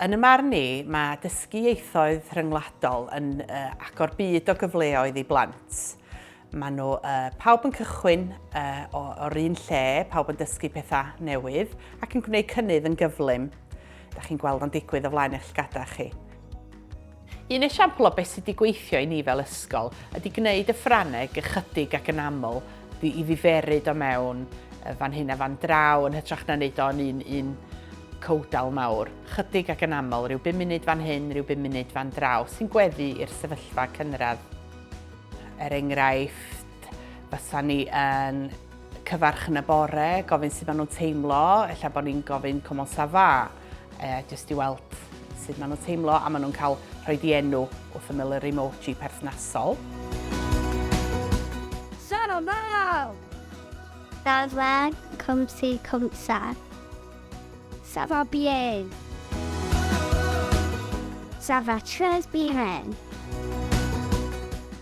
Yn y marn ni, mae dysgu ieithoedd rhyngwladol yn uh, agor byd o gyfleoedd i blant. Mae nhw uh, pawb yn cychwyn uh, o'r un lle, pawb yn dysgu pethau newydd ac yn gwneud cynnydd yn gyflym. Da chi'n gweld o'n digwydd o flaen eich llgadau chi. Un esiampl o beth sydd wedi gweithio i ni fel ysgol ydy gwneud y Ffrangeg ychydig ac yn aml i ddiferyd o mewn fan hyn a fan draw yn hytrach na wneud o'n un, un cowdal mawr. Chydig ac yn aml, rhyw bum munud fan hyn, rhyw bum munud fan draw, sy'n gweddu i'r sefyllfa cynradd. Er enghraifft, fysa ni yn cyfarch yn y bore, gofyn sut maen nhw'n teimlo, ella bod ni'n gofyn comment ça va. e, jyst i weld sut maen nhw'n teimlo a maen nhw'n cael rhoi di enw wrth ymyl yr emoji perthnasol. Sarah Mal! Sarah Cwmsi Cwmsa. Sarah Bien. Sarah Tres Bien.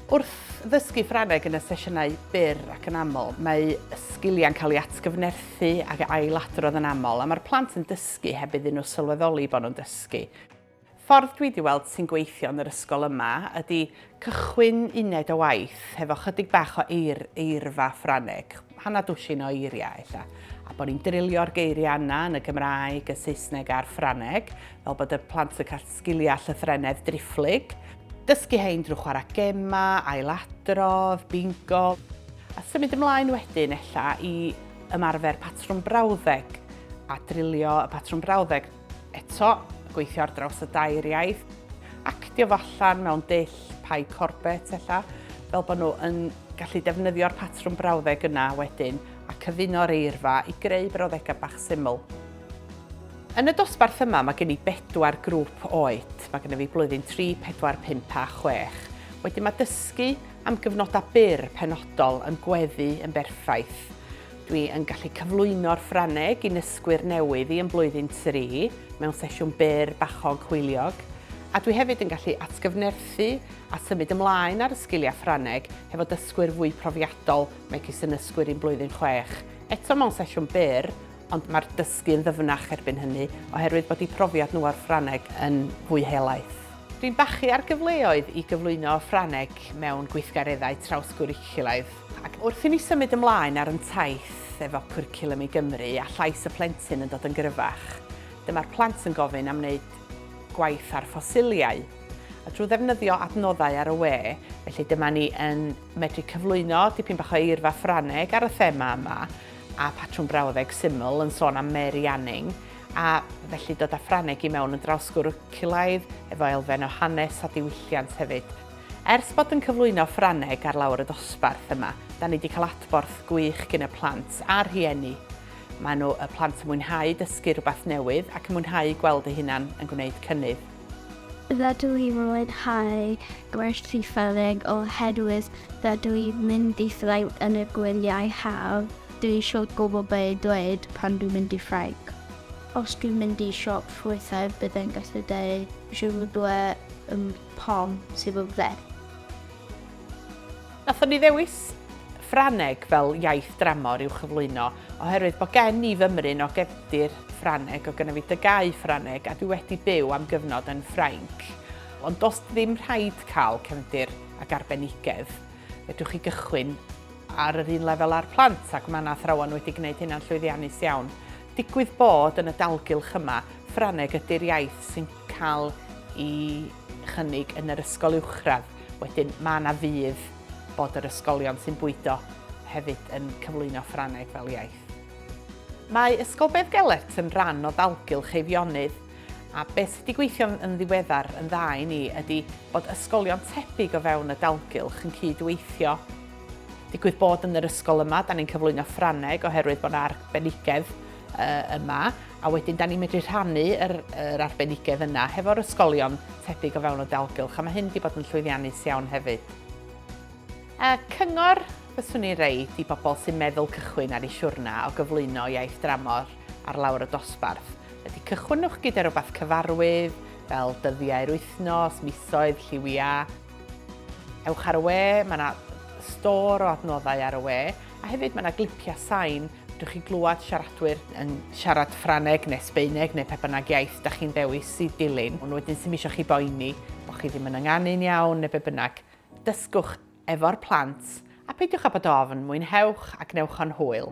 Wrth ddysgu Ffrangeg yn y sesiynau byr ac yn aml, mae sgiliau'n cael ei atgyfnerthu Dysgu ac ailadrodd yn aml a mae'r plant yn dysgu heb iddyn nhw sylweddoli bod nhw'n dysgu. Ffordd dwi 'di weld sy'n gweithio yn yr ysgol yma ydi cychwyn uned o waith hefo chydig bach o eir, eirfa Ffraneg, hanner dwsin o eiriau ella, a bod ni'n drilio'r geiriau yna yn y Gymraeg, y Saesneg a'r Ffraneg, fel bod y plant yn cael Sgiliau llythrennedd driphlyg. Dysgu hein drwy chwarae gemau, ailadrodd, bingo. A symud ymlaen wedyn ella i ymarfer patrwm brawddeg a drilio y patrwm brawddeg. Eto, gweithio ar draws y dair iaith. Actio fo allan mewn dull Pie Corbett ella, fel bod nhw yn gallu defnyddio'r patrwm brawddeg yna wedyn a cyfuno'r eirfa i greu brawddegau bach syml. Yn y dosbarth yma mae gen i bedwar grŵp oed, mae gennyf fi blwyddyn 3, 4, 5 a 6. Wedyn mae dysgu am gyfnodau byr penodol yn gweddu yn berffaith. Dwi yn gallu cyflwyno'r Ffrangeg i nysgwyr newydd i yn blwyddyn 3 mewn sesiwn byr bachog hwyliog, a dwi hefyd yn gallu atgyfnerthu a symud ymlaen ar y sgiliau Ffrangeg hefo dysgwyr fwy profiadol megis yn nysgwyr i'n blwyddyn 6, eto mewn sesiwn byr ond mae'r dysgu yn ddyfnach erbyn hynny oherwydd bod eu profiad nhw o'r Ffrangeg yn fwy helaeth. Dwi'n bachu ar gyfleoedd i gyflwyno y Ffrangeg mewn gweithgareddau trawsgwricwlaidd, ac wrth i ni symud ymlaen ar yn taith efo Cwricwlwm i Gymru a llais y plentyn yn dod yn gryfach, dyma'r plant yn gofyn am wneud gwaith ar ffosiliau, a drwy ddefnyddio adnoddau ar y we, felly dyma ni yn medru cyflwyno dipyn bach o eirfa Ffrangeg ar y thema yma. a patrwm brawddeg syml yn sôn am Mary Anning, a felly dod â Ffrangeg i mewn yn draws gwrwcilaidd efo elfen o hanes a diwylliant hefyd. Ers bod yn cyflwyno Ffrangeg ar lawr y dosbarth yma, da ni wedi cael adborth gwych gin y plant a'r rhieni. Mae nhw, y plant, yn mwynhau dysgu rhywbeth newydd ac yn mwynhau gweld eu hunan yn gwneud cynnydd. Rydw i'n mwynhau gwerthu ffyrnig oherwydd rydw i'n mynd i Ffrainc yn y gwyliau haf, dwi isio gwybod be i ddweud pan dwi'n mynd i Ffrainc. Os dwi'n mynd i siop ffrwythau bydd e'n gallu dweud 'Je voudrais un pomme s'il vous plait'. Nathon ni ddewis Ffrangeg fel iaith dramor i'w chyflwyno oherwydd bod gen i fymryn o gefndir Ffrangeg, oedd genna fi dygau Ffrangeg a dwi wedi byw am gyfnod yn Ffrainc. Ond does ddim rhaid cael cefndir ac arbenigedd, fedrwch chi gychwyn ar yr un lefel â'r plant ac mae 'na athrawon wedi gwneud hynna'n llwyddiannus iawn. Digwydd bod yn y dalgylch yma, Ffrangeg ydy'r iaith sy'n cael i chynnig yn yr ysgol uwchradd. Wedyn mae yna fydd bod yr ysgolion sy'n bwydo hefyd yn cyflwyno Ffrangeg fel iaith. Mae Ysgol Bedd Gelert yn rhan o ddalgylch Eifionydd, a beth sydd wedi gweithio yn ddiweddar yn dda i ni ydy bod ysgolion tebyg o fewn y dalgylch yn cyd-weithio. Digwydd bod yn yr ysgol yma, da ni'n cyflwyno Ffrangeg oherwydd bod yna arbenigedd yma, A wedyn, da ni'n medru rhannu yr, yr arbenigedd yna hefo'r ysgolion tebyg o fewn y dalgylch, a mae hyn wedi bod yn llwyddiannus iawn hefyd. A cyngor fyswn i'n reid i bobl sy'n meddwl cychwyn ar eu siwrna o gyflwyno iaith dramor ar lawr y dosbarth ydy cychwynwch gyda rhywbeth cyfarwydd, fel dyddiau'r wythnos, misoedd, lliwiau. Ewch ar y we, mae yna stor o adnoddau ar y we, a hefyd mae yna glipiau sain Dych chi'n clywed siaradwyr yn siarad Ffrangeg neu Sbaeneg neu pe bynnag iaith da chi'n dewis i dilyn, ond wedyn sy'n eisiau chi boeni bod chi ddim yn ynganu'n iawn neu be bynnag. Dysgwch efo'r plant a peidiwch â bod ofn, mwynhewch a gwnewch o'n hwyl.